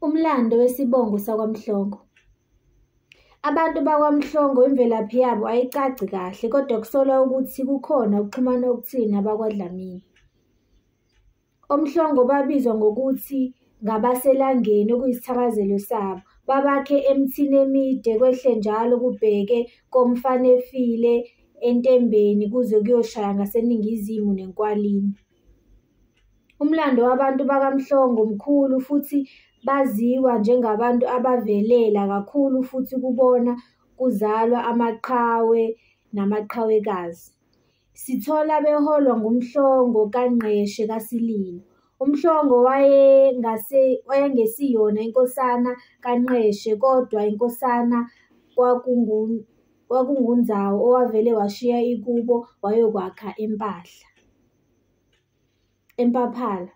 Umlando wesibongo sakwaMhlongo. Abantu bakwaMhlongo imvelaphi yabo ayicaci kahle kodwa kusolwa ukuthi kukhona ukuxhumana okuthile nabakwaDlamini. OMhlongo babizwa ngokuthi ngabaselangeni okuyisithakazelo sabo. Babakhe emithini emide kwehle njalo kubheke komfanefile entembeni kuze kuyoshaya ngaseningizimu nenkwalini. Umlando wabantu bakaMhlongo mkhulu futhi baziwa njengabantu abavelela kakhulu futhi kubona kuzalwa amaqhawe namaqhawekazi. Sithola beholwa nguMhlongo kaNgqeshe kaSililo. UMhlongo wayengesiyona inkosana kaNgqeshe kodwa inkosana kwakunguNzawo owavele washiya ikubo wayokwakha eMpahla. eMpaphala.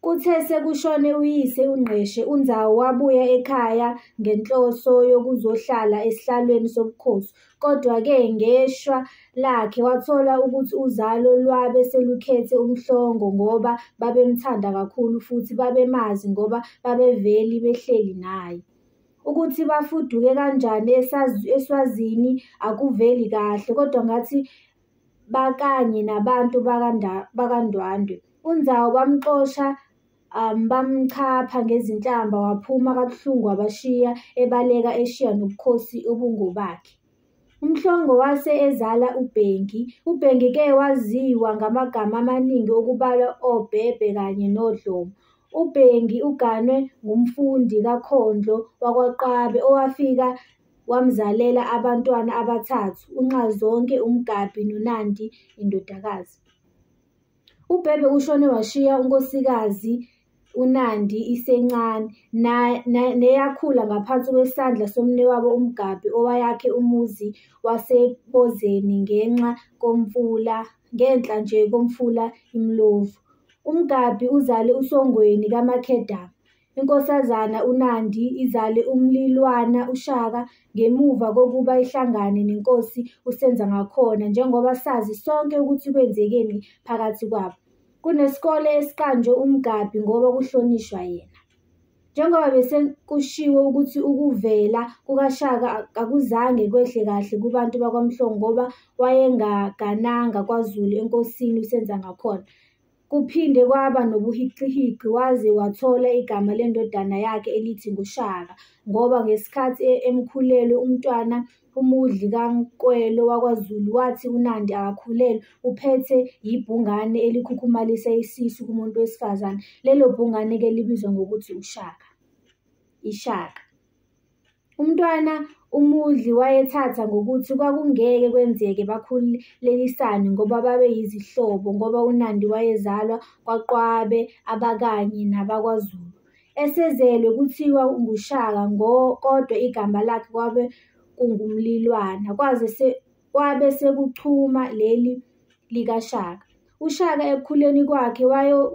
Kuthe sekushone uyise uNgqeshe, uNzawu wabuya ekhaya ngenhloso yokuzohlala esihlalweni sobukhosi. Kodwa-ke ngeshwa lakhe wathola ukuthi uzalo lwabe selukhethe uMhlongo ngoba babemthanda kakhulu futhi babemazi ngoba babeveli behleli naye. Ukuthi bafuduke kanjani eSwazini akuveli kahle kodwa ngathi bakanye nabantu bakanda- bakaNdwandwe. UNzawo bamxosha um, bamchapha ngezinhlamba waphuma kabuhlungu wabashiya ebaleka eshiya nobukhosi obungobakhe. UMhlongo wase ezala uBhengi. UBhengi ke waziwa ngamagama amaningi okubalwa oBhebhe kanye noDlomo. UBhengi uganwe ngumfundi kaKhondlo wakwaQwabe owafika Wamzalela abantwana abathathu, uNxazonke, uMgabhi noNandi indodakazi. UBhebhe ushone washiya unkosikazi uNandi isencane na- na- neyakhula ngaphansi kwesandla somnewabo uMgabhi owayakhe umuzi waseBozeni ngenxa komfula ngenhla nje komfula iMlovu. UMgabhi uzale uSongweni kaMakhedama. INkosazana uNandi izale umlilwana uShaka ngemuva kokuba ihlangane neNkosi uSenzangakhona njengoba sazi sonke ukuthi kwenzekeni phakathi kwabo. Kunesikole esiqanjwe uMgabhi ngoba kuhlonishwa yena. Njengoba bese kushiwo ukuthi ukuvela kukaShaka akuzange kwehle kahle kubantu bakwaMhlongo ngoba wayengagananga kwaZulu eNkosini uSenzangakhona. Kuphinde kwaba nobuhiqihiqi waze wathola igama lendodana yakhe elithi nguShaka ngoba ngesikhathi e- emkhulelwe uMntwana uMudli kaNkwelo wakwaZulu wathi uNandi akakhulelwe uphethe yibhungane elikhukhumalisa isisu kumuntu wesifazane. Lelo bhungane-ke libizwa ngokuthi uShaka, iShaka. Umntwana uMudli wayethatha ngokuthi kwakungeke kwenzeke bakhulelisane ngoba babe yizihlobo ngoba uNandi wayezalwa kwaQwabe abakanye nabakwaZulu. Esezelwe kuthiwa nguShaka ngo kodwa igama lakhe kwabe kunguMlilwana kwaze se, kwabe sekuchuma leli likaShaka. UShaka ekukhuleni kwakhe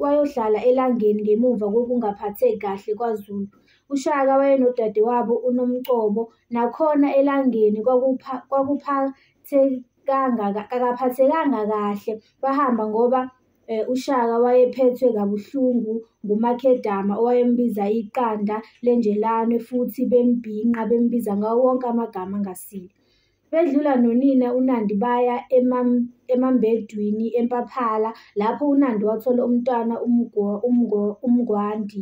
wayohlala elangeni ngemuva kokungaphatheki kahle kwaZulu. UShaka wayenodadewabo uNomcobo, nakhona elangeni kakaphathekanga kahle bahamba ngoba eh, uShaka wayephethwe kabuhlungu nguMakhedama owayembiza iqanda lenjelane futhi bembhinqa bembiza ngawo wonke amagama angasile. Bedlula nonina uNandi baya emambedwini eMpaphala lapho uNandi wathola umntwana uMngwandi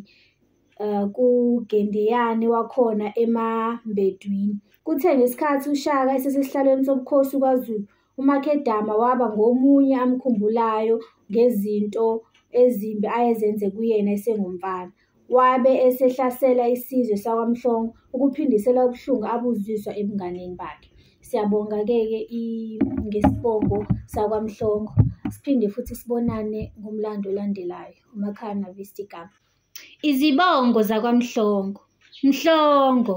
eh, kuGendeyane wakhona emambedwini. Kuthe ngesikhathi uShaka esesesihlalweni sobukhosi kwaZulu, uMakhedama waba ngomunye amkhumbulayo ngezinto ezimbi ayezenze kuyena esengumfana. Wabe esehlasela isizwe sakwaMhlongo ukuphindisela ubuhlungu abuzizwa ebunganeni bakhe. Siyabonga-ke-ke ngesibongo sakwaMhlongo. Siphinde futhi sibonane ngomlando olandelayo. UMakhaya Navista igama. Izibongo zakwaMhlongo. Mhlongo.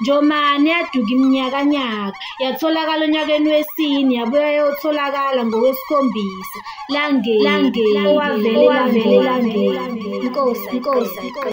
Njomane yaduka iminyakanyaka, yatholakala onyakeni wesine, yabuya yayotholakala ngowesikhombisa. Langeni, langeni, owavele, owavele, langeni. Inkosi, inkosi, inkosi.